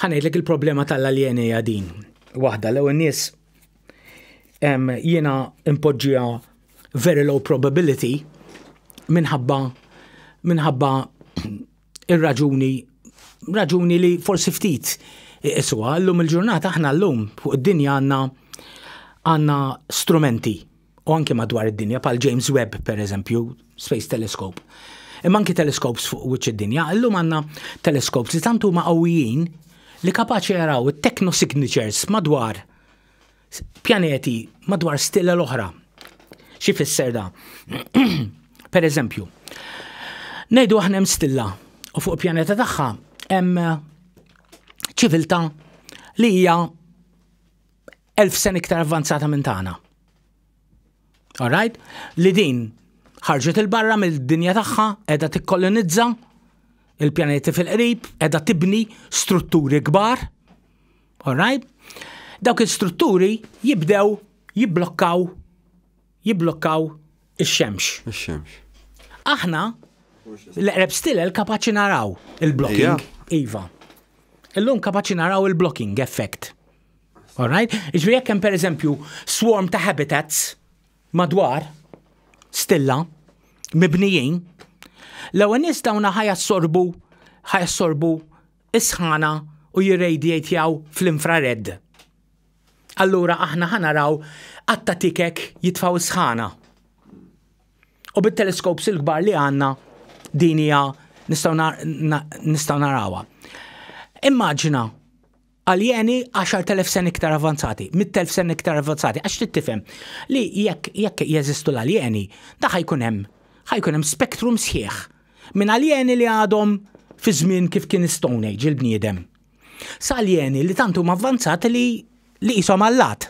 Ħa ngħidlek il-problema tal-aljeni hija din. Waħda l-ewwel nies jiena impoġġija very low probability minħabba minħabba ir-raġuni raġuni li forsi ftit iswa llum il-ġurnata aħna llum fuq id-dinja għandna għandna strumenti u anki madwar id-dinja pal James Webb per eżempju, Space Telescope. Imma anki telescopes fuq wiċċ id-dinja, illum għandna telescopes li tant huma qawwijin li kapaċi jaraw it-techno signatures madwar pjaneti madwar stilla l-oħra. Xi fisser da? per eżempju, ngħidu aħna hemm stilla u fuq pjaneta tagħha hemm ċiviltà li hija elf sen iktar avvanzata minn tagħna. Alright? Li din ħarġet il-barra mill-dinja tagħha qiegħda tikkolonizza il-pjaneti fil-qrib, qiegħda tibni strutturi kbar. Alright? Dawk il-strutturi jibdew jibblokkaw jibblokkaw ix-xemx. Ix-xemx. Aħna l-eqreb stilel kapaċi naraw il-blocking. Iva. Illum kapaċi naraw il-blocking effect. All right? Ġri jekk hemm pereżempju swarm ta' habitats madwar stilla mibnijin, l-ewwel nies dawna ħajassorbu ħajassorbu is-sħana u jirradiatjaw fl-infrared. Allura aħna ħanaraw għatta tikek jitfaw is-sħana. U bit-teleskops il-kbar li għanna din hija nistgħu narawha. Immaġina aljeni 10,000 sen iktar avanzati, 100,000 sen iktar avanzati, għax trid tifhem li jekk jekk jeżistu l-aljeni, da ħajkun hemm ħajkun hemm spektrum sħiħ minn aljeni li għadhom fi żmien kif kien Stone Age il-bniedem. Sa aljeni li tant huma avvanzati li li qishom allat.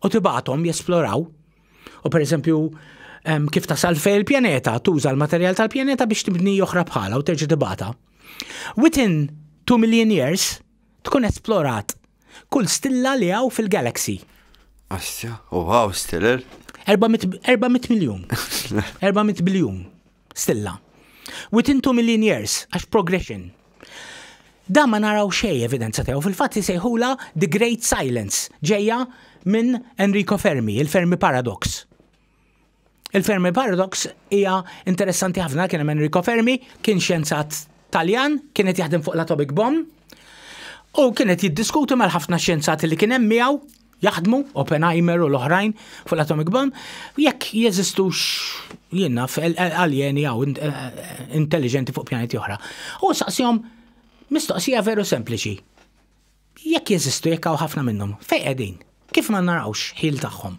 u tibgħathom jesploraw. U pereżempju kif tasal fej il-pjaneta, tuża l-materjal tal-pjaneta biex tibni oħra bħala u terġa' tibgħatha. Within 2 million years tkun esplorat kull stilla li hawn fil-galaxy. Astja, u għaw stiller? 400 miljon. 400 biljun. stilla. Within two million years, għax progression. Da ma naraw xej evidenza tiegħu fil-fatt li sejħula The Great Silence ġejja minn Enrico Fermi, il-Fermi Paradox. Il-Fermi Paradox hija interessanti ħafna kien hemm Enrico Fermi, kien xjenzat Taljan, kien qed jaħdem fuq l-atomic bomb, u kien qed jiddiskuti mal-ħafna xjenzati li kien hemm miegħu jaħdmu, Oppenheimer u l-oħrajn fuq l-atomic bomb, jekk jeżistux jienna aljeni għaw eh, eh, intelligenti fuq pjaneti oħra. U saqsihom mistoqsija veru sempliċi. Jekk jeżistu jekk hawn ħafna minnhom, fejn qegħdin? Kif ma narawx ħil tagħhom?